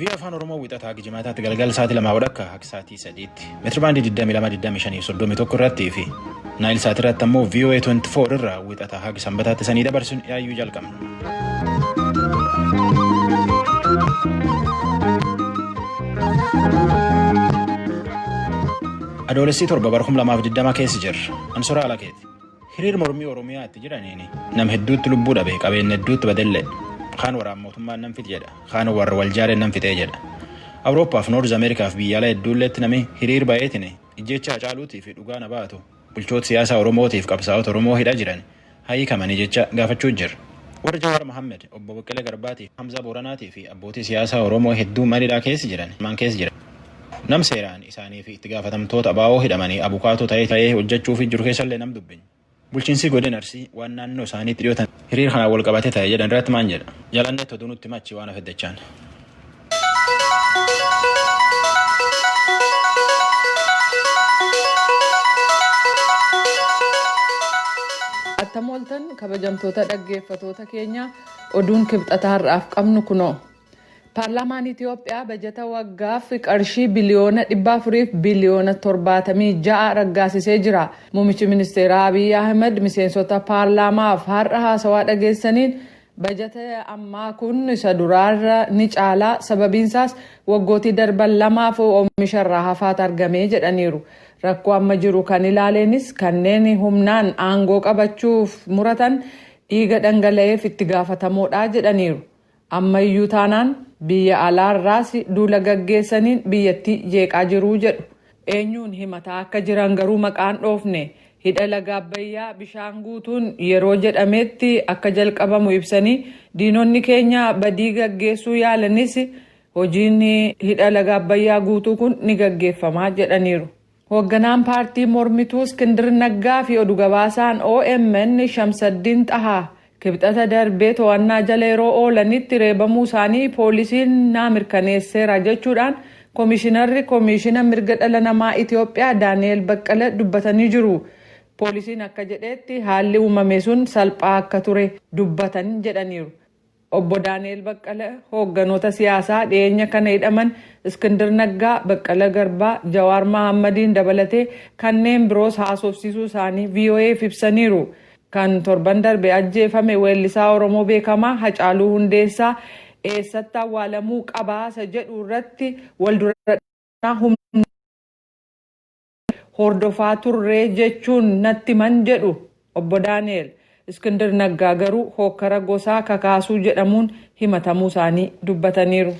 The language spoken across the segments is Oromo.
Vii Afaan Oromoo wixataa hanga jimaataatti galgala sa'aatii lamaa hanga akka sa'aatii sadiitti meetira baandii 22,25,31 irratti fi naayil sa'aatii irratti ammoo VOA 24 irraa wixataa hanga sanbataatti sanii dabarsuun yaayyuu jalqabna. Adoolessi torba bara 2020 keessa jirra. Ansoraa Alakeeti. Hiriir mormii Oromiyaa itti jiraniin nam hedduutti lubbuu dhabe qabeenya hedduutti badellee kaan waraan mootummaan nan fite jedha kaan warra wal jaareen nan fixee jedha. Awurooppaaf Noorz Ameerikaaf biyyaalaa hedduulleetti nami hiriir bayeetiin ijjeecha Hacaaluutii fi dhugaa na baatu bulchoota siyaasaa Oromootiif qabsaa'ota Oromoo hidha jiran haa hiikamanii jecha gaafachuu jira. Warri Jawaar Mohammed, Obbo Baqqalee Garbaatii fi Hamzaa Booranaatii fi abbootii siyaasaa Oromoo hedduun mana hidhaa keessa jiran maan keessa jiran. Nam seeraan isaanii fi itti gaafatamtoota abaawoo hidhamanii abukaatoo ta'ee ta'ee hojjechuu fi jiru keessallee nam dubbin. Bulchiinsii godin Arsii waan naannoo isaaniitti dhiyootan hiriir kanaan wal qabatee ta'e jedhan irratti maan jedha. Jalannee toduu nutti machi waan hafe dachaan. Attam ooltan kabajamtoota dhaggeeffatoota keenya oduun kibxata har'aaf qabnu kunoo. Paarlaamaan Itiyoophiyaa bajata waggaaf qarshii biliyoona 400 fi biliyoona 76 raggaasisee jira. Muummichi ministeeraa Abiy Ahimad miseensota paarlaamaaf har'a haasawaa dhageessaniin bajata ammaa kun isa duraarra ni caala sababiinsaas waggootii darban lamaaf oomisharraa hafaat argame jedhaniiru. Rakkoo amma jiru kan ilaaleenis kanneen humnaan aangoo qabachuuf muratan dhiiga dhangala'eef itti gaafatamoodha jedhaniiru. Amma iyyuu taanaan biyya alaa irraas duula gaggeessaniin biyyattii jeeqaa jiru jedhu. Eenyuun himataa akka jiran garuu maqaa hin dhoofne. Hidha laga Abbayyaa bishaan guutuun yeroo jedhameetti akka jalqabamu ibsanii, diinonni keenya badii gaggeessuu yaalanis hojiin hidha laga Abbayyaa guutuu kun ni gaggeeffama jedhaniiru. Hoogganaan paartii mormituu Iskindir Naggaa fi odu gabaasaan omn Shamsaddiin Xahaa Kibxata darbee to'annaa jala yeroo oolanitti reebamuu isaanii poolisiin naa mirkaneesseera jechuudhaan Komishinarri Komiishina Mirga Dhala Namaa Itoophiyaa Daani'eel Baqqala dubbatanii jiru. Poolisiin akka jedheetti haalli uumame sun salphaa akka ture dubbatan jedhaniiru. Obbo Daani'eel Baqqala hoogganoota siyaasaa dhiyeenya kana hidhaman Iskindir Naggaa, Baqqala Garbaa, Jawaar Mahaammadiin dabalatee kanneen biroos haasofsiisuu isaanii VOA'f ibsaniiru. Kan torban darbe ajjeefame weellisaa Oromoo beekamaa Hacaaluu Hundeessaa eessatti awwaalamuu qaba isa jedhu irratti wal dura dhaabbannaa humnoota. hordofaa turre jechuun natti himan jedhu Obbo Daani'eel. Iskindir Naggaa garuu hookkara gosaa kakaasuu jedhamuun himatamuu isaanii dubbataniiru.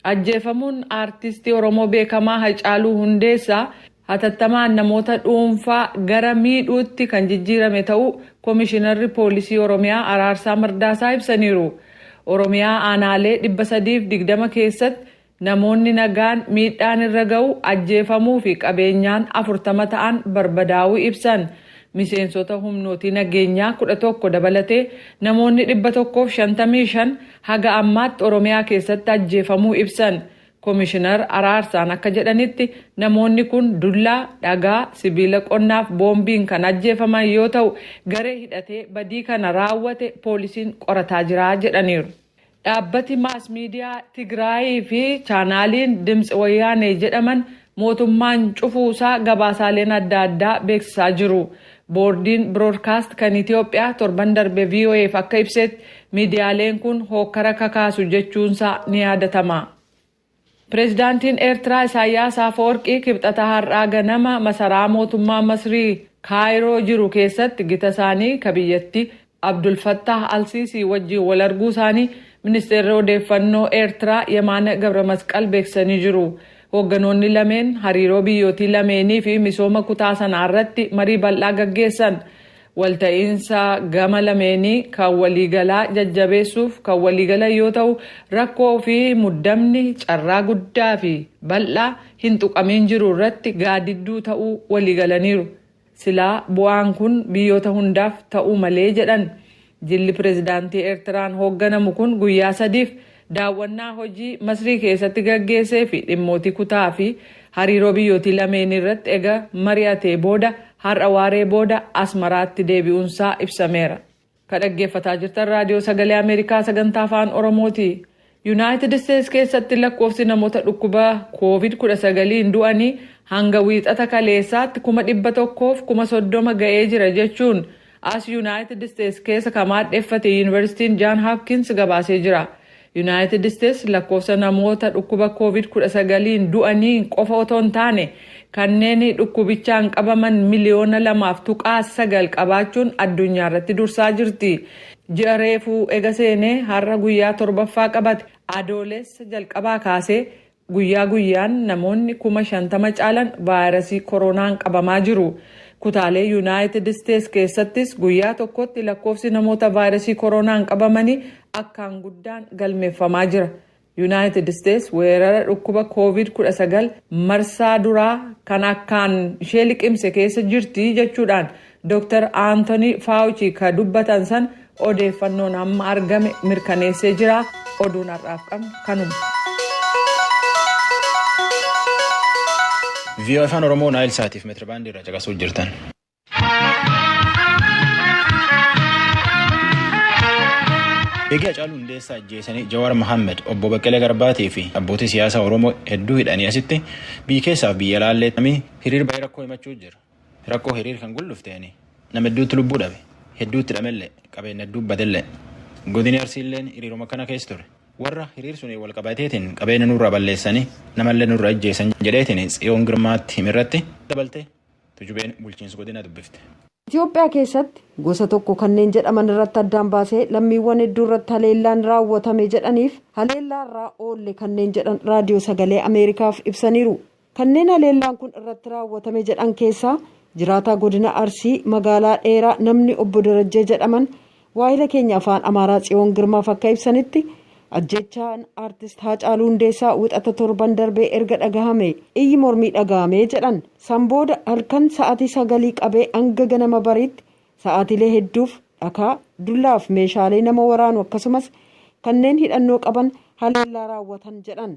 Ajjeefamuun Aartistii Oromoo beekamaa Hacaaluu Hundeessaa hatattamaan namoota dhuunfaa gara miidhuutti kan jijjiirame ta'uu Komishinarri Poolisii Oromiyaa Araarsaa Mardaasaa ibsaniiru. Oromiyaa aanaalee 320 keessatti Namoonni nagaan miidhaan irra ga'u, ajjeefamuu fi qabeenyaan 40 ta'an barbadaa'uu ibsan. Miseensota humnootii nageenyaa 11 dabalatee namoonni 155 haga ammaatti Oromiyaa keessatti ajjeefamuu ibsan. Komishinar Araarsaan akka jedhanitti namoonni kun dullaa, dhagaa, sibiila qonnaaf boombiin kan ajjeefaman yoo ta'u, garee hidhatee badii kana raawwate poolisiin qorataa jira jedhaniiru. Dhaabbati maas miidiyaa Tigraayii fi chaanaaliin Dimtsi Wayyaanee jedhaman mootummaan cufuu isaa gabaasaaleen adda addaa beeksisaa jiru. Boordiin Broodkaast kan Itoophiyaa torban darbe VOA'f akka ibsetti miidiyaaleen kun hookkara kakaasu jechuunsaa ni yaadatama. Pireezidaantiin Eertiraa Isaayyaas Afawarqii Kibxata har'aa ganama masaraa mootummaa Masrii Kaayiroo jiru keessatti gita isaanii ka biyyattii Abdul Fattaah al-Siisii wajjin wal arguu isaanii Ministeerri Odeeffannoo Eertiraa Yemaana Gabramasqal beeksisanii jiru. Hoogganoonni lameen hariiroo biyyootii lameenii fi misooma kutaa sanaa irratti marii bal'aa gaggeessan. Walta'iinsa gama lameenii kan waliigalaa jajjabeessuuf kan waliigalan yoo ta'u, rakkoo fi muddamni carraa guddaa fi bal'aa hin tuqamiin jiru irratti gaadidduu ta'uu waliigalaniiru. Silaa bu'aan kun biyyoota hundaaf ta'uu malee jedhan. Jilli Pireezidaantii Eertiraan hoogganamu kun guyyaa sadiif Daawwannaa hojii Masrii keessatti gaggeessee fi dhimmootii kutaa fi hariiroo biyyootii lameenii irratti ega mari'atee booda har'a waaree booda Asmaraatti deebi'uunsaa ibsameera. Ka dhaggeeffataa jirtan Raadiyoo Sagalee Ameerikaa Sagantaa Afaan Oromooti. Yunaayitid Isteets keessatti lakkoofsi namoota dhukkuba Koovid 19n du'anii hanga Wiixata kaleessaatti 100,000 fi 30,000 ga'ee jira jechuun As Yunaayitid Isteets keessa ka maadheffate Yuunivarsiitiin Jaan Hapkins gabaasee jira. Yunaayitid Isteets lakkoofsa namoota dhukkuba Kooviid 19n du'aniin qofa otoo hin taane kanneen dhukkubichaan qabaman miliyoona 2.9 qabaachuun addunyaarratti dursaa jirti. Ji'a reefuu ega seenee har'a guyyaa 7ffaa qabate Adoolessa jalqabaa kaasee Guyyaa guyyaan namoonni 50,000 caalan vaayirasii koroonaan qabamaa jiru. Kutaalee Yunaayitid Isteets keessattis guyyaa tokkotti lakkoofsi namoota vaayirasii koroonaan qabamanii akkaan guddaan galmeeffamaa jira. Yunaayitid Isteets weerara dhukkuba Kooviid 19 marsaa duraa kan akkaan ishee liqimse keessa jirti jechuudhaan Dr Anthony Fauci ka dubbatan san odeeffannoon amma argame mirkaneessee jira. Oduun har'aaf qabnu kanuma. VOA Afaan Oromoo Naayil Saatiif meetirabaandii irraa caqasuu jirtan. Egaa Hacaaluu Hundeessaa ajjeesanii Jawaar Mohaammed obbo Baqqalee Garbaatii fi abbootii siyaasaa Oromoo hedduu hidhanii asitti biyya keessaaf biyya laallee hiriir baay'ee rakkoo himachuu jira. Rakkoo hiriir kan guldhufteeni nama hedduutti lubbuu dhabe, hedduutti hidhamellee, qabeenna hedduu badellee. Godini Arsiilleen hiriiruma akkana keessa ture. Warra hiriir suniin wal qabateetiin qabeenna nurraa balleessanii, namallee nurra ijjeessan jedheetiin Tsiyoon Girmaatti hime irratti dabaltee Tujubeen bulchiinsa godinaa dubbifte. Itoophiyaa keessatti gosa tokko kanneen jedhaman irratti addaan baasee lammiiwwan hedduu irratti haleellaan raawwatame jedhaniif haleellaa irraa oolle kanneen jedhan Raadiyoo Sagalee Ameerikaaf ibsaniiru. Kanneen haleellaan kun irratti raawwatame jedhan keessaa jiraataa godina Arsii magaalaa Dheeraa namni obbo Darajjee jedhaman waahila keenya afaan Amaaraa Tsiyoon Girmaaf akka ibsanitti ajjeechaan Aartist Haacaaluu Hundeessaa wixata torban darbee erga dhagahame iyyi mormii dhagahame jedhan. San booda halkan sa'aatii sagalii qabee hanga ganama bariitti sa'aatiilee hedduuf dhakaa, dullaaf meeshaalee nama waraanu akkasumas kanneen hidhannoo qaban haleellaa raawwatan jedhan.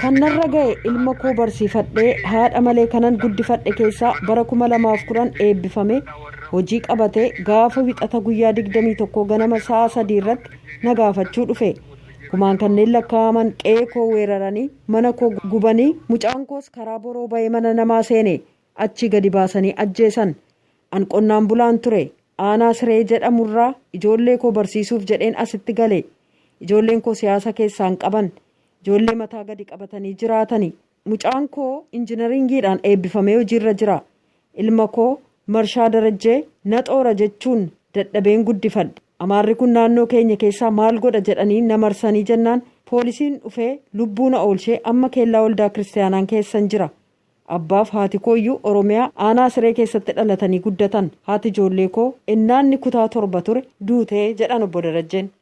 Kan narra ga'e ilma koo barsiifadhee haadha malee kanan guddifadhe keessaa bara 2010 eebbifamee hojii qabatee gaafa wixata guyyaa 21 ganama sa'a 3 irratti na gaafachuu dhufe. Kumaan kanneen lakkaa'aman qe'ee koo weeraranii mana koo gubanii mucaan koos karaa boroo ba'ee mana namaa seene achii gadi baasanii ajjeesan. An qonnaan bulaan ture. Aanaa Siree jedhamu irraa ijoollee koo barsiisuuf jedheen asitti gale. Ijoolleen koo siyaasa keessaa hin qaban. Ijoollee mataa gadi qabatanii jiraatani. Mucaan koo injinariingiidhaan eebbifamee hojiirra jira. Ilma koo Marshaa Darajjee na xoora jechuun dadhabeen guddifadhe. Amaarri kun naannoo keenya keessaa maal godha jedhanii na marsanii jennaan poolisiin dhufee lubbuu na oolshee amma keellaa waldaa kiristiyaanaan keessan jira. Abbaaf haati kooyyuu Oromiyaa aanaa Siree keessatti dhalatanii guddatan. Haati ijoollee koo ennaa inni kutaa torba ture duute jedhan Obbo Darajjeen.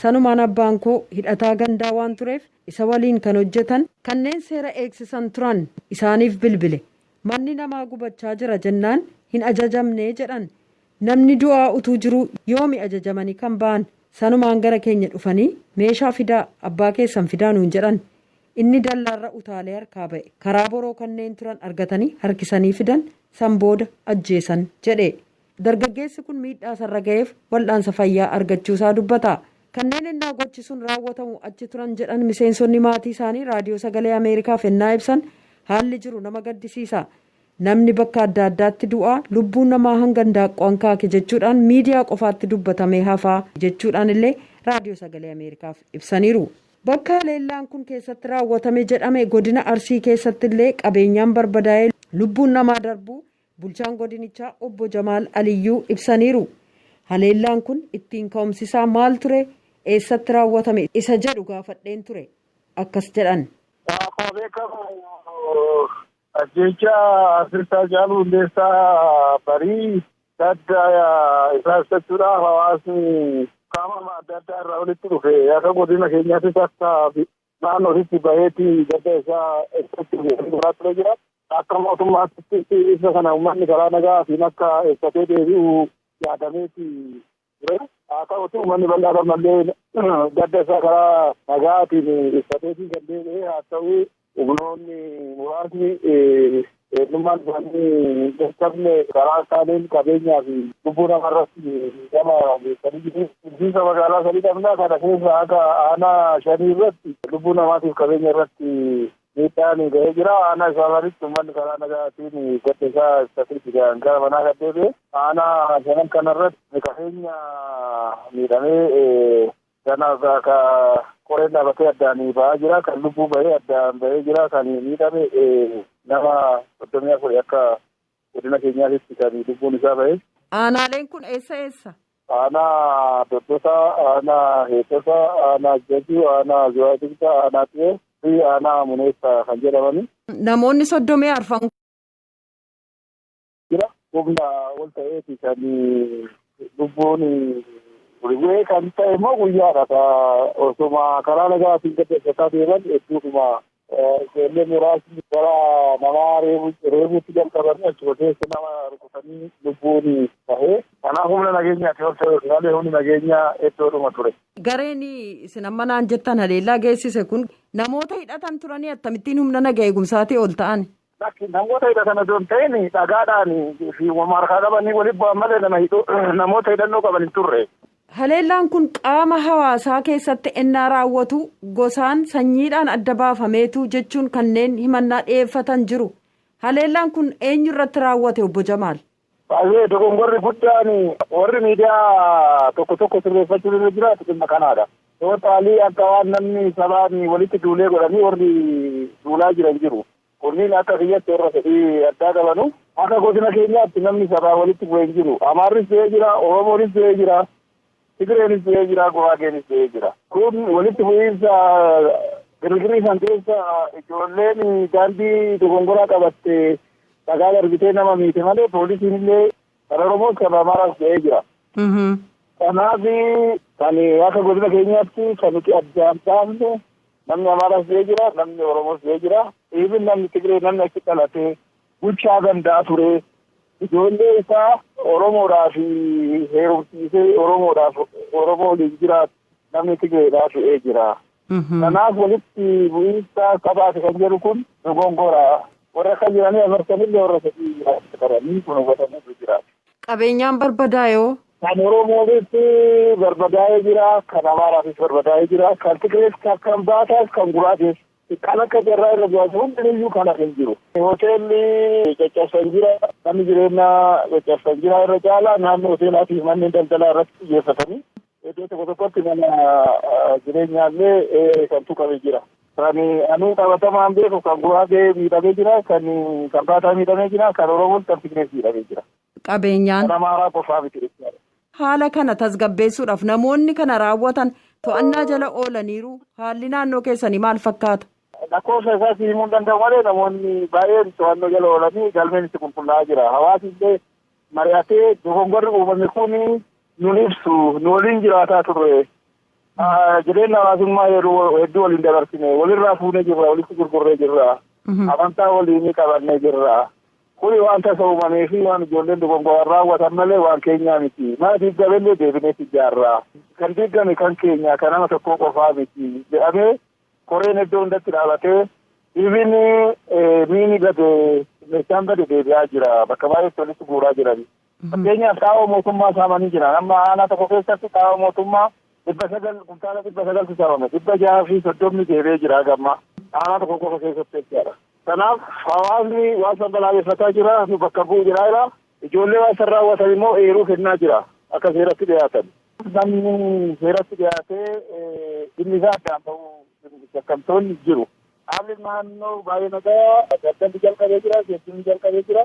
Sanumaan abbaan koo hidhataa gandaa waan tureef isa waliin kan hojjetan kanneen seera eegsisan turan isaaniif bilbile. Manni namaa gubachaa jira jennaan hin ajajamne jedhan. Namni du'aa utuu jiruu yoomi ajajamanii kan ba'an? Sanumaan gara keenya dhufanii meeshaa fidaa, abbaa keessan fidaa nuun jedhan. Inni dallaarra utaalee harkaa ba'e. Karaa boroo kanneen turan argatanii harkisanii fidan, san booda ajjeesan, jedhe. Dargaggeessi kun miidhaa isarra gaheef wal'aansa fayyaa argachuusaa dubbata. Kanneen ennaa gochi sun raawwatamu achi turan jedhan miseensonni maatii isaanii Raadiyoo Sagalee Ameerikaaf ennaa ibsan haalli jiru nama gaddisiisa. Namni bakka adda addaatti du'aa, lubbuun namaa hanga indaaqqoo hankaake jechuudhaan miidiyaa qofaatti dubbatamee hafaa jechuudhaan illee Raadiyoo Sagalee Ameerikaaf ibsaniiru. Bakka haleellaan kun keessatti raawwatame jedhame godina Arsii keessatti illee qabeenyaan barbadaa'ee lubbuun namaa darbuu bulchaan godinichaa obbo Jamaal Aliyyuu ibsaniiru. Haleellaan kun ittiin ka'umsisaa maal ture? Eessatti raawwatame? Isa jedhu gaafadheen ture. Akkas jedhan. Akkuma beekamu ajjeechaa Artist Haacaaluu Hundeessaa barii gadda isaa ibsachuudhaaf hawaasni qaama adda addaa irraa walitti dhufe akka godina keenyaattis akka Naannoo ofitti baheeti gadda isaa ibsachuu deemee garaa ture jira. Akka mootummaatti ibsa kana uummanni karaa nagaatiin akka ibsatee deebi'u yaadameeti ture. Haa ta'uti uummanni bal'aan ammallee gadda isaa karaa nagaatiin ibsateetii kan deebi'e haa ta'u humnoonni muraasni Eenyummaan isaanii hin beekamne karaa kaaniin qabeenyaa fi lubbuu nama irratti miidhama geessanii jiru. Bulchiinsa magaalaa Salii Dhamnaa kana keessa haga aanaa shanii irratti lubbuu namaatiif qabeenya irratti miidhaan ga'ee jira. Aanaa isaa sanitti uummanni karaa nagaatiin gadda isaa ibsatee jira gara manaa kan deebi'e. Aanaa shanan kana irratti qabeenya miidhamee Kanaaf ka qoreen dhaabatee addaan ba'aa jira. Kan lubbuu bahee addaan bahee jira. Kan miidhame nama 34 akka godina keenyaatitti kan lubbuun isaa bahe. Aanaaleen kun eessa eessa? Aanaa Doddosaa, Aanaa Heexosaa, Aanaa Jajuu, Aanaa Zuwaay Dugdaa, Aanaa Xiyoo fi Aanaa Muneessaa kan jedhamani. Namoonni 34 jira. Humna ol ta'eeti kan lubbuun bu'ee kan ta'e immoo guyyaadha. Osuma karaa nagaatiin gaggeeffataa deeman hedduudhuma ijoollee muraasni gara namaa reebuutti jalqabanii achuma keessa nama rukutanii lubbuun ta'e. Kanaaf humna nageenyaati ol ta'e malee humni nageenyaa hedduudhuma ture. Gareen isin amma naan jettan haleellaa geessise kun namoota hidhatan turanii akkamittiin humna naga eegumsaatii ol ta'an? Lakki namoota hidhatan osoo hin ta'in dhagaadhaan fi wama harkaa qabanii walitti bu'an malee nama hidhu namoota hidhannoo qaban hin turre. Haleellaan kun qaama hawaasaa keessatti ennaa raawwatu gosaan, sanyiidhaan adda baafameetu jechuun kanneen himannaa dhiyeeffatan jiru. Haleellaan kun eenyu irratti raawwate Obbo Jamaal? Baay'ee dogongorri guddaan warri miidiyaa tokko tokko sirreeffachuun irra jiraatu dhimma kanaadha. Tootaalii akka waan namni sabaan walitti duulee godhanii warri duulaa jiran jiru. Kunniin akka kiyyatti warra fedhii addaa qabanu. Akka godina keenyaatti namni sabaa walitti bu'e hin jiru. Amaarris du'ee jira, Oromoonis du'ee jira. Tigreenis du'ee jira, Guraageenis du'ee jira. Kun walitti bu'iinsa girgirrii san keessa ijoolleen daandii dogongoraa qabatte dhagaa darbitee nama miite malee poolisiin illee kan Oromoos kan Amaaraas du'ee jira. Kanaaf kan akka godina keenyaatti kan nuti addaan baafne namni Amaaraas du'ee jira, namni Oromoos du'ee jira. Dhiibin namni Tigree namni achi dhalatee Bulchaa gandaa ture. Ijoollee isaa Oromoodhaaf heerumsiisee Oromoodhaaf Oromoo waliin jiraatu namni Tigreedhaa fe'ee jira. Kanaaf walitti bu'iinsa qabaate kan jedhu kun dogongora. Warra akka jiranii amartanillee warra sadii jiraachuu qabanii kun hubatamutu jira. Qabeenyaan barbadaayoo? Kan Oromoonis barbadaa'ee jira, kan Amaaraafis barbadaa'ee jira, kan Tigrees, kan Kambaataas, kan Guraatees Kan akka carraa irra jiraatu hundiniyyuu kan hafe hin jiru. Hoteelli caccabsan jira, manni jireenyaa caccabsan jira. Irra caalaa naannoo hoteelaa fi manneen daldalaa irratti xiyyeeffatanii iddoo tokko tokkotti mana jireenyaallee kan tuqame jira. Kan ani qabatamaan beeku kan Guraagee miidhamee jira, kan Kambaataa miidhamee jira, kan Oromoos kan Tigrees miidhamee jira. qabeenyaan. Kan Amaaraa qofaa miti jechaadha. Haala kana tasgabbeessuudhaaf namoonni kana raawwatan to'annaa jala oolaniiru haalli naannoo keessanii maal fakkaata? Lakkoofsa isaa si himuu hin danda'u malee namoonni baay'een to'annoo jala oolanii galmeen itti qulqullaa'aa jira. Hawaasni illee mari'atee dogongorri uumame kun nun ibsu nu waliin jiraataa turre Jireenya hawaasummaa yeroo hedduu waliin dabarsine walirraa fuunee jirra walitti gurgurree jirra amantaa waliinii qabannee jirra. Kuni waan tasa uumamee fi waan ijoolleen dogongoraan raawwatan malee waan keenyaa miti. Mana diigamellee deebinee ijaarra. Kan diigame kan keenya kan nama tokkoo qofaa miti jedhamee koreen iddoo hundatti dhaabatee ibin miini bade meeshaan bade deebi'aa jira bakka baay'eetti walitti guuraa jiran. Fakkeenyaaf xaa'oo mootummaa saamanii jiran. Amma aanaa tokko keessatti xaa'oo mootummaa dhibba sagal kuntaala dhibba sagaltu saamame. Dhibba jahaa fi soddomni deebi'ee jira haga ammaa. Aanaa tokko qofa keessatti jechaadha. Kanaaf hawaasni waan san balaaleffataa jira, nu bakka bu'u jira jira. Ijoollee waan san raawwatan immoo eeruu kennaa jira akka seeratti dhiyaatan. Namni seeratti dhiyaatee dhimmi isaa addaan bahu shakkamtoonni jiru. Haalli naannoo baay'ee nagaa daldalli jalqabee jira, geejjibni jalqabee jira.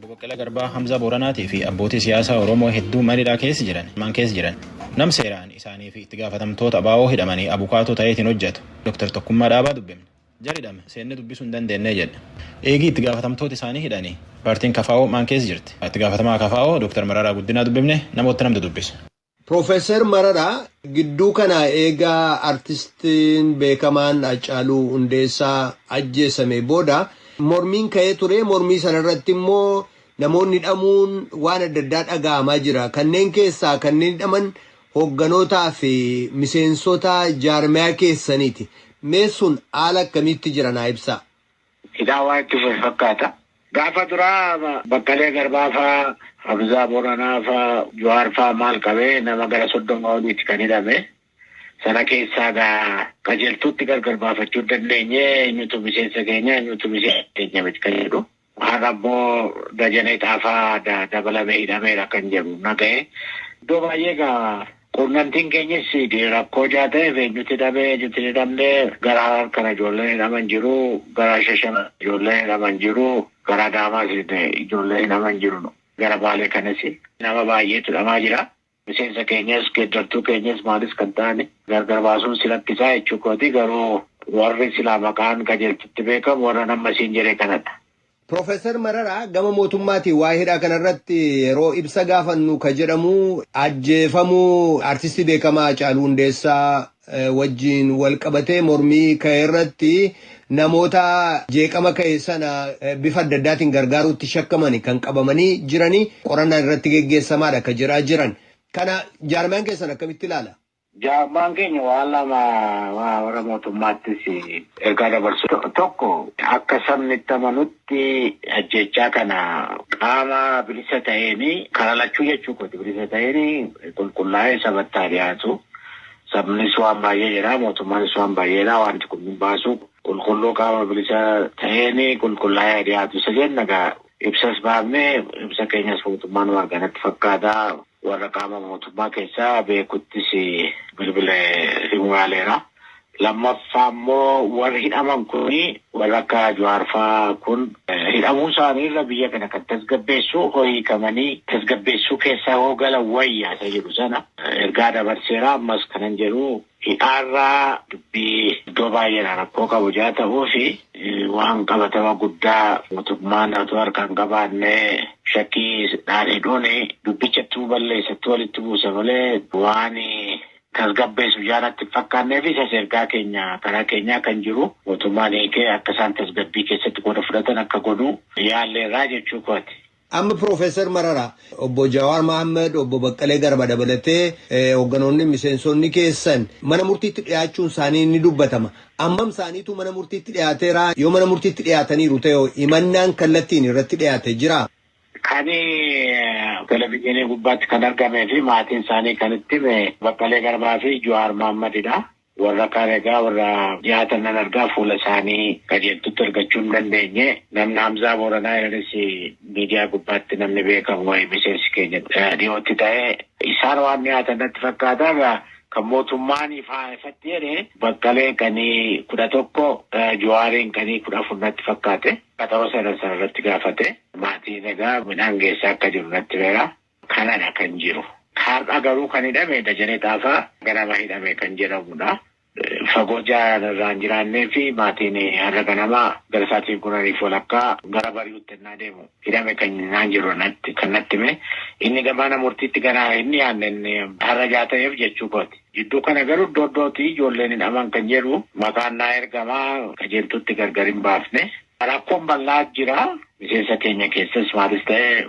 Obbo Baqqalaa Garbaa, Hamzaa Booranaatii fi abbootii siyaasaa Oromoo hedduu mana hidhaa keessa jiran, maan keessa jiran. Nam seeraan isaanii fi itti gaafatamtoota abo hidhamanii abukaatoo ta'eetiin hojjatu Dr. Tokkummaa Dhaabaa dubbifne. Jari hidhame seennee dubbisuu hin dandeenne jedha. Eegii itti gaafatamtooti isaanii hidhanii paartiin kfo maan keessa jirti? Itti gaafatamaa kfo Dr. Mararaa Guddinaa dubbifne, namoota nam dudubbise. Professor Marara gidduu kana eega artistiin beekamaan Haacaaluu Hundeessaa ajjeesamee booda mormiin ka'ee ture. Mormii sana irratti immoo namoonni hidhamuun waan adda addaa dhaga'amaa jira. Kanneen keessaa kanneen hidhaman hogganootaa fi miseensota jaarmayaa keessaniiti. Mee sun haala akkamiitti jira naa ibsaa. Hidhaa waan itti fufe fakkaata. Gaafa duraa Baqqalee Garbaa faa, Hamzaa Booranaa faa, Jawaar faa maal qabee nama gara soddoma oliiti kan hidhame. Sana keessaa egaa qajeeltuutti gargar baafachuu hin dandeenye eenyutu miseensa keenya eenyutu miseensa keenya miti kan jedhu. Har'a immoo Dajanee Xaafaa dabalamee hidhameera kan jedhu dhaga'e. Iddoo baay'ee egaa Quunnamtiin keenyis rakkoo ijaa ta'eef eenyutti hidhame eenyutti hin hidhamne gara Harar kana ijoolleen hidhaman jiru, gara Shashamee ijoolleen hidhaman jiru, gara Adaamaas ijoolleen hidhaman jiru, gara Baalee kanas nama baay'eetu hidhamaa jira. Miseensa keenyas, geeddartuu keenyas maalis kan ta'an gargar baasuun si rakkisa jechuu kooti. Garuu warri silaa maqaan qajeeltutti beekamu warran amma siin jedhe kanadha. Professor Mararaa gama mootummaatiin waa'ee hidhaa kanarratti yeroo ibsa gaafannu ka jedhamu ajjeefamuu artistii beekamaa Hacaaluu Hundeessaa eh, wajjin wal qabatee mormii ka'e irratti namoota jeeqama ka'e sana eh, bifa adda addaatiin gargaaruutti shakkamani kan qabamanii jiranii qorannaan irratti geggeessamaadha ka jedhaa jiran. Kana jaarmayaan keessan akkamitti ilaala? Jaarmayaan keenya waan lama warra mootummaattis ergaa dabarsu. Tokko akka sabni itti amanutti ajjeechaa kana qaama bilisa ta'een karaa lachuu jechuu kooti bilisa ta'een qulqullaa'ee sabatti haa dhiyaatu. Sabnis waan baay'ee jedha mootummaanis waan baay'ee jedha wanti kun hin baasu qulqulluu qaama bilisa ta'een qulqullaa'ee haa dhiyaatu isa jenna egaa ibsas baafne ibsa keenyas mootummaan waan arganatti fakkaata. Warra qaama mootummaa keessaa beekuttis bilbilee himuu yaaleera. Lammaffaa immoo warri hidhaman kun warra akka Jawaar fa'aa kun hidhamuu isaanii irra biyya kana kan tasgabbeessu hoo hiikamanii tasgabbeessuu keessaa hoo galan wayya isa jedhu sana ergaa dabarseera. Ammas kanan jedhu Hidhaarraa dubbii iddoo baay'eedhaa rakkoo qabu jaa ta'uufi waan qabatama guddaa mootummaan otoo harkaa hin qabaanne shakkiidhaan hidhuun dubbichatu balleessatti walitti buusa malee waan tasgabbeessu jaa natti hin fakkaanneefi isas ergaa keenya karaa keenyaa kan jiru mootummaan hiikee akka isaan tasgabbii keessatti qooda fudhatan akka godhu yaalleerraa jechuu kooti. Amma Piroofeesar Mararaa, Obbo Jawaar Mahaammad, Obbo Baqqalee Garba dabalatee hoogganoonni miseensonni keessan mana murtiitti dhiyaachuun isaanii ni dubbatama. Ammam isaaniitu mana murtiitti dhiyaateera? Yoo mana murtiitti dhiyaataniiru ta'e hoo himannaan kallattiin irratti dhiyaate jiraa? Kan televizyiinii gubbaatti kan argamee fi maatiin isaanii kan itti hime Baqqalee Garbaa fi Jawaar Mahaammadidha. Warra kaan egaa warra dhiyaatan nan argaa fuula isaanii qajeeltutti argachuu hin dandeenye. Namni Hamzaa Booranaa irranis miidiyaa gubbaatti namni beekamu wayii miseensi keenya dhiyootti ta'e. Isaan waan dhiyaatan natti fakkaata. Egaa kan mootummaan ifaa ifatti jedhe Baqqalee qanii 11 Juwaariin qanii 14 natti fakkaate. Qaxaroo seenan sana irratti gaafate. Maatiin egaa midhaan geessaa akka jiru natti himeera. Kanadha kan jiru. Har'a garuu kan hidhame Dajanee Xaafaa ganama hidhame kan jedhamudha. Fagoo jaan irraa hin jiraannee fi maatiin har'a ganama gara sa'aatii kudhanii fi walakkaa gara bari'utti ennaa deemu hidhame kan naan jiru natti kan natti hime. Inni mana murtiitti gana hin dhiyaanne inni har'a ijaa ta'eef jechuu kooti. Jidduu kana garuu iddoo iddootii ijoolleen hidhaman kan jedhu maqaan naa ergama qajeeltuutti gargar hin baafne. Rakkoon bal'aa jira. Miseensa keenya keessas maatis ta'e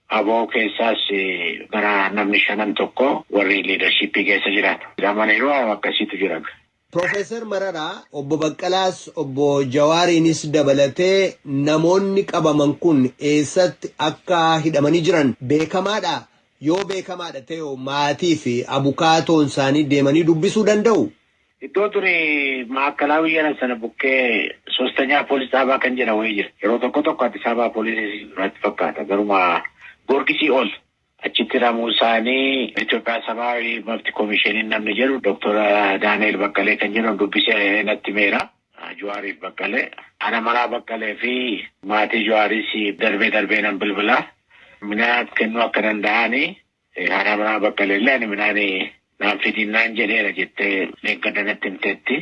Abo keessaas gara namni shanan tokko warri liidarshiippii keessa jiran hidhamaniiru waan akkasiitu jira. Pirofeesar Mararaa, Obbo Baqqalaas, Obbo Jawaariinis dabalatee namoonni qabaman kun eessatti akka hidhamanii jiran beekamaadhaa? Yoo beekamaadha ta'eho maatiifi abukaatoonsaanii deemanii dubbisuu danda'uu? Iddoo duri Maa'akkalaawii jedhan sana bukkee Sostanyaa Poolis Xaabaa kan jedhan wayii jira. Yeroo tokko tokko Addis Ababaa Poolisiis natti fakkaata. Garuma Goorgisii ol. Achitti hidhamuu isaanii Itoophiyaa Sabaawi Mabti Komisheeniin namni jedhu Doktor Daani'eel Baqqalee kan jedhamu dubbisee natti himeera. Juwaariif Baqqalee. Ana manaa Baqqalee fi maatii Juwaariis darbee darbee nan bilbila. Minaa kennuu akka danda'aani Haadha manaa Baqqaleellee ani midhaan naan fidiin naan jedheera jettee dheengadda natti himteetti.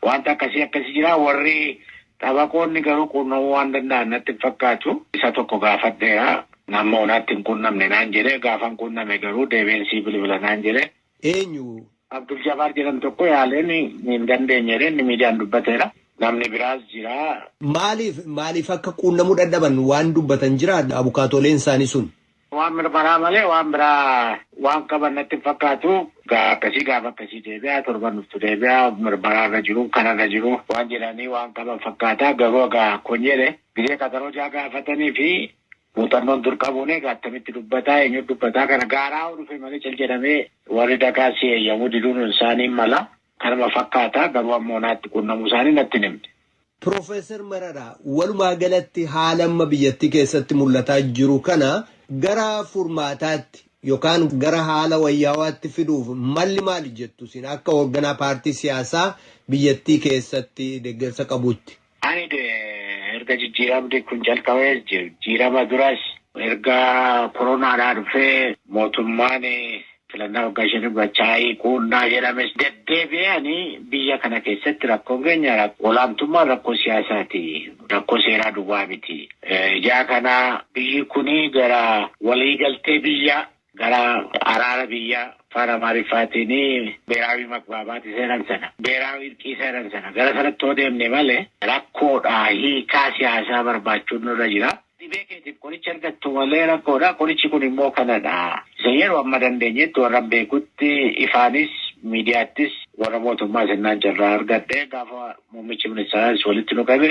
Wanta akkasii akkasii jira warri xabaqoonni garuu quunnamuu waan danda'an natti hin fakkaatu. Isa tokko gaafadheera. Amma onaatti hin quunnamne naan jedhe gaafan quunname garuu deebi'een sii bilbila naan jedhe. Eenyu? Abdul Jabaar jedhamu tokko yaaleen hin dandeenye jedhee inni miidiyaan dubbateera. Namni biraas jira. Maaliif maaliif akka quunnamuu dadhaban waan dubbatan jiraa abukaatooleen isaanii sun? Waan mirmaraa malee waan biraa waan qaban natti hin fakkaatu. Gaa akkasii gaafa akkasii deebi'a torban dhuftu deebi'a mirmaraa irra jiru kana irra jiru waan jedhanii waan qaban fakkaata garuu egaa kun jedhe gizee qaxaroo jaa gaafatanii fi muuxannoon dur qabuun egaa attamitti dubbataa eenyu dubbataa kana gaaraa hoo dhufe malee cal jedhamee warri dagaa si eeyyamuu diduun isaanii mala kanuma fakkaata garuu ammoo naatti quunnamuu isaanii natti hin himne. Pirofeesar Mararaa, walumaa galatti haala amma biyyattii keessatti mul'ataa jiru kana gara furmaataatti yookaan gara haala wayyaawaatti fiduuf malli maali jettu isin akka hoogganaa paartii siyaasaa biyyattii keessatti deggersa qabuutti? Ani erga jijjiiramni kun calqabees jijjiirama duras erga koronaadhaa dhufee mootummaan Filannaa waggaa shanii Machaayii, Quunnaa jedhames deddeebi'ee ani biyya kana keessatti rakkoon keenya olaantummaan rakkoo siyaasaati. Rakkoo seeraa duwwaa miti. Ijaa kana biyyi kun gara waliigaltee biyyaa, gara araara biyyaa afaan Amaariffaatiin beeraawii magbaabaati seenan sana, beeraawii irqii seenan sana gara sanatti yoo deemne malee rakkoodha hiikaa siyaasaa barbaachuun nurra jira. Dhibee keetiif qoricha argattu malee rakkoodha. Qorichi kun immoo kanadha. Isa yeroo amma dandeenyetti warran beekutti ifaanis miidiyaattis warra mootummaas ennaan carraa argadhe gaafa muummichi ministeeraas walitti nu qabe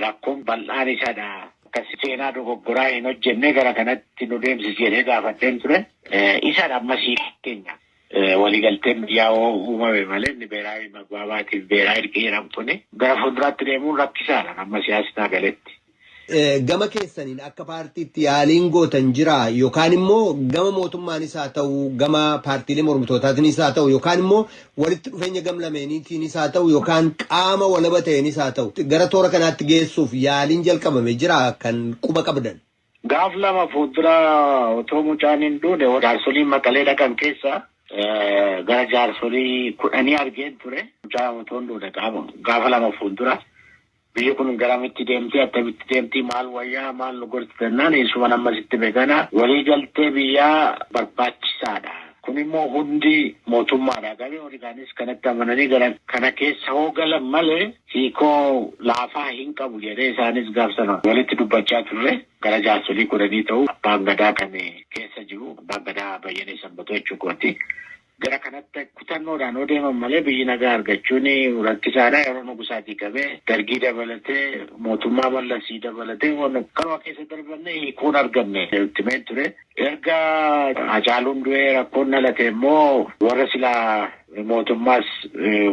rakkoon bal'aan isadha. Akka seenaa dogoggoraa hin hojjenne gara kanatti nu deemsisi jedhee gaafadheen ture. Isadha amma siif keenya. Waliigalteen biyyaa yoo uumame malee inni beeraawi magbaabaatiin beeraa irqii jedhamu kuni gara fuulduraatti deemuun rakkisaadha amma siyaasni naa galetti. Gama keessaniin akka paartiitti yaaliin gootan jiraa yookaan immoo gama mootummaanis haa ta'u gama paartiilee mormitootaatiinis haa ta'u yookaan immoo walitti dhufeenya gam lameeniitiinis haa ta'u yookaan qaama walaba ta'eenis haa ta'u gara toora kanaatti geessuuf yaaliin jalqabame jiraa kan quba qabdan? Gaaf lama fuuldura otoo mucaan hin duune jaarsoliin Maqalee dhaqan keessa gara jaarsolii kudhanii argeen ture. Mucaan otoo hin duune gaafa lama fuuldura biyyi kun garamitti deemti attamitti deemti maal wayyaa maal nu gorsi jennaan eessuman amma sitti beekana walii galtee biyyaa barbaachisaadha. Kun immoo hundi mootummaadha. Gareen warri kaanis kanatti amananii gara kana keessa hoo galan malee hiikoo laafaa hin qabu jedhee isaanis gaaf sana walitti dubbachaa turre. Gara jaarsolii kudhanii ta'u abbaan gadaa kan keessa jiru. Abbaan gadaa Bayyanee Sanbatoo jechuu kooti. Gara kanatti kutannoodhaan yoo deeman malee biyyi nagaa argachuun rakkisaadha. Yeroo Nugusaatii qabee Dargii dabalatee mootummaa Mallasii dabalatee waan akkanuma keessa darbannee hiikoo hin arganne nutti himee ture. Erga Hacaaluun du'ee rakkoon dhalate immoo warra silaa mootummaas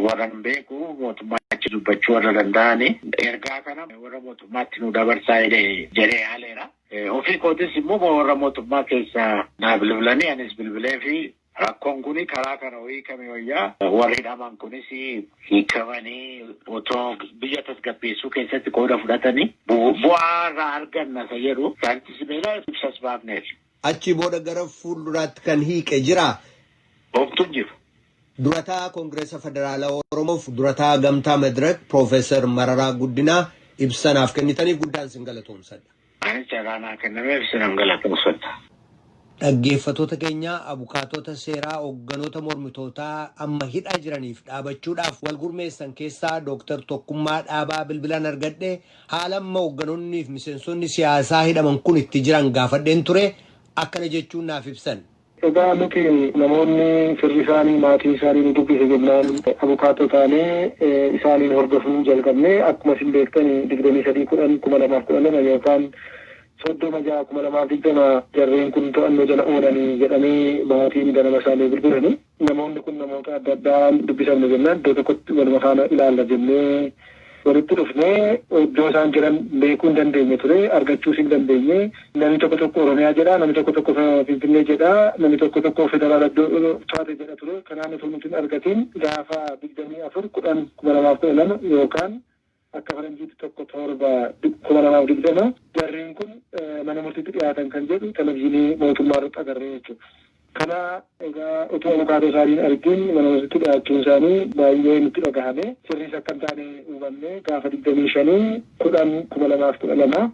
warra hin beeku mootummaa achi dubbachuu warra danda'ani ergaa kana warra mootummaatti nu dabarsaa jedhee jedhee haaleera. Ofii kootis immoo warra mootummaa keessa naa bilbilanii anis bilbilee fi Rakkon kuni karaa kana yoo hiikame wayya. Warri hidhaman kunis hiikamanii otoo biyya tasgabbeessuu keessatti qooda fudhatanii bu'aa irraa arganna isa jedhu Saayintisti Simeelaan ibsas baafneef. Achii booda gara fuulduraatti kan hiiqe jiraa? Homtu hin jiru. Durataa Kongiresa Federaalaa Oromoof Durataa Gamtaa Madirak Prof. Mararaa Guddinaa ibsa naaf kennitaniif guddaan isin galatoomsadha. Anis carraa naa kennameef isinan galatoomfadha. Dhaggeeffatoota keenya, abukaatoota seeraa hogganoota mormitootaa amma hidhaa jiraniif dhaabachuudhaaf wal gurmeessan keessaa Dooktar Tokkummaa Dhaabaa bilbilaan argadhe haala amma hogganonniif miseensonni siyaasaa hidhaman kun itti jiran gaafadheen ture akkana jechuun naaf ibsan. Egaa nuti namoonni firri isaanii, maatiin isaanii nu dubbise jennaan abukaatoo taanee isaaniin hordofuu jalqabne. Akkuma isin beektan 23/10/2012 yookaan 30/6/2020 jarreen kun to'annoo jala oolani jedhamee maatiin ganama isaa nuu bilbilani. Namoonni kun namoota adda addaa dubbisamne jennaan iddoo tokkotti waluma faana ilaalla jennee, Walitti dhufnee iddoo isaan jiran beekuu hin dandeenye ture, argachuus hin dandeenye. Namni tokko tokko Oromiyaa jedha, namni tokko tokko Finfinnee jedha, namni tokko tokko Federaala iddoo taate jedha ture. Kanaan utuu nuti hin argatiin gaafa 24 10 2012 yookaan akka faranjiitti 1 7 2020 jarreen kun mana murtiitti dhiyaatan kan jedhu televizyiinii mootummaa irratti agarre jechuudha. Kana egaa utuu abukaatoo isaanii hin argin mana murtiitti dhiyaachuun isaanii baay'ee nutti dhagahame. Sirriis akka hin taane hubanne. Gaafa 25 10 2012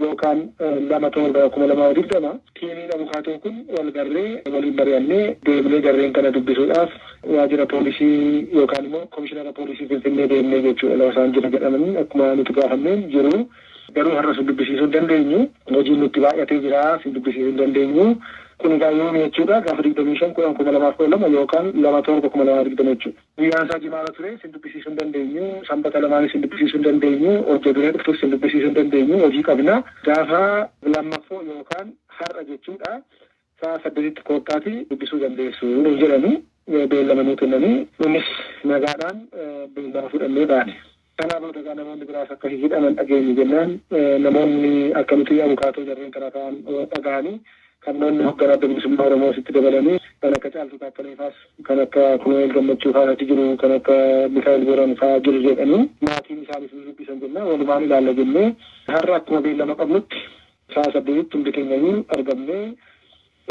yookaan 2 7 2020 tiimiin abukaatoo kun wal garree waliin mari'annee deemnee jarreen kana dubbisuudhaaf waajjira poolisii yookaan immoo komishinara poolisii Finfinnee deemne jechuudha lafa isaan jiru jedhamanii akkuma nuti gaafanneen jiru Garuu har'a si dubbisiisuu hin dandeenyu. Hojiin nutti baay'atee jira. Si dubbisiisuu hin dandeenyu. Kun egaa yoomi jechuudha? Gaafa 25-10-2012 yookaan 2-7-2020 jechuudha. Guyyaan isaa Jimaata ture. Sin dubbisiisuu hin dandeenyu. Sanbata lamaanis sin dubbisiisuu hin dandeenyu. Hojja duree dhuftus sin dubbisiisuu hin dandeenyu. Hojii qabna. Gaafa lammaffoo yookaan har'a jechuudha. sa'a saddeetitti koottaatii dubbisuu dandeessu nuun jedhanii beellama nuu kennanii nunis nagaadhaan beellama fudhannee baane. Kanaa booda egaa namoonni biraas akka hidhaman dhageenye jennaan namoonni akka nuti abukaatoo jarreen kanaa ta'an dhagahanii qabnoonni hogganaa Adda Bilisummaa Oromoos itti dabalanii kan akka Caaltuu Taakkalee faas kan akka Kunu'eel Gammachuu faan achi jiru kan akka Mikaa'el Booran faa jiru jedhanii maatiin isaanis nu dubbisan jennaan walumaan ilaalla jennee har'a akkuma beellama qabnutti Sa'a saddeetitti hundi keenyayyuu argamnee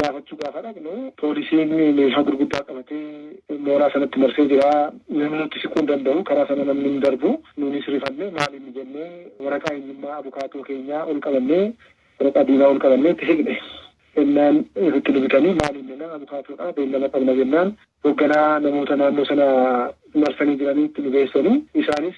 gaafachuu gaafa dhaqnu poolisiin meeshaa gurguddaa qabatee mooraa sanatti marsee jira. Namni nutti siquu hin danda'u. Karaa sana namni hin darbu. Nuunis rifannee maal inni jennee waraqaa eenyummaa abukaatoo keenyaa ol qabannee waraqaa diimaa ol qabannee itti siqne. Jennaan ofitti nu bitanii maal inni jennaan abukaatoodha beellama qabna jennaan hogganaa namoota naannoo sana marsanii jiraniitti nu geessanii isaanis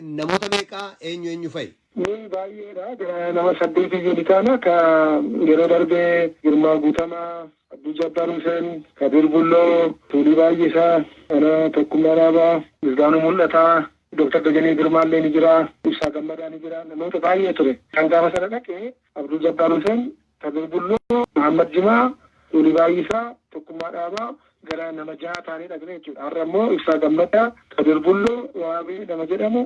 Namoota meeqa? Eenyu eenyu fa'i? Nuyi baay'eedha. Gara nama saddeetii iyyuu ni taana. Ka yeroo darbe Girmaa Guutamaa, Abduu Jabbaar Huseen, Kadiir Bulloo, Tuulii Baay'isaa, ana Tokkummaa Dhaabaa, Misgaanuu Mul'ataa, Doktar Dajanee Girmaallee ni jira, Ibsaa Gammadaa ni jira, namoota baay'ee ture. Kan gaafa sana dhaqe Abdul Jabbaar Huseen, Kadir Bulloo, Mahammad Jimaa, Kuulii Baayyisaa, Tokkummaa Dhaabaa gara nama jahaa taanee dhaqne jechuudha. Har'a immoo Ibsaa Gammadaa, Kadir Bulloo, Waabee nama jedhamu,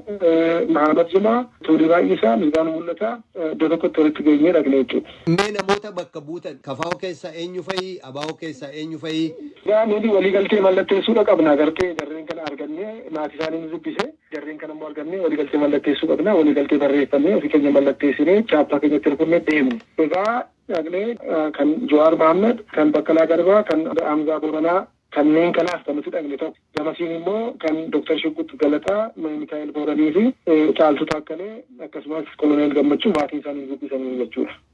Mahammad Jimaa, Tuulii Baayyisaa, Misgaanuu Mul'ataa iddoo tokkotti walitti geenyee dhaqne jechuudha. Mee namoota bakka buutan kfo keessaa eenyu fa'i? Abo keessaa eenyu fa'i? Egaa nuti waliigaltee mallatteessuudha qabna agartee jarreen kana argannee maatiisaanii nu dubbise. Jarreen kana immoo argannee waliigaltee mallatteessuu qabna. Waliigaltee barreeffannee ofii keenya mallatteessinee chaappaa keenyatti rukunnee deemne. Egaa dhaqnee kan Jawaar Mahaammad, kan Baqqalaa Garbaa, kan Hamzaa Booranaa kanneen kanaaf kan nuti dhaqne tokko. Gamasiin immoo kan Dr. Shugguxx Galataa, Mikaa'el Booraniifi Caaltuu Taakkalee akkasumas Koloneel Gammachuu maatiin isaanii nu dubbisaniiru jechuudha.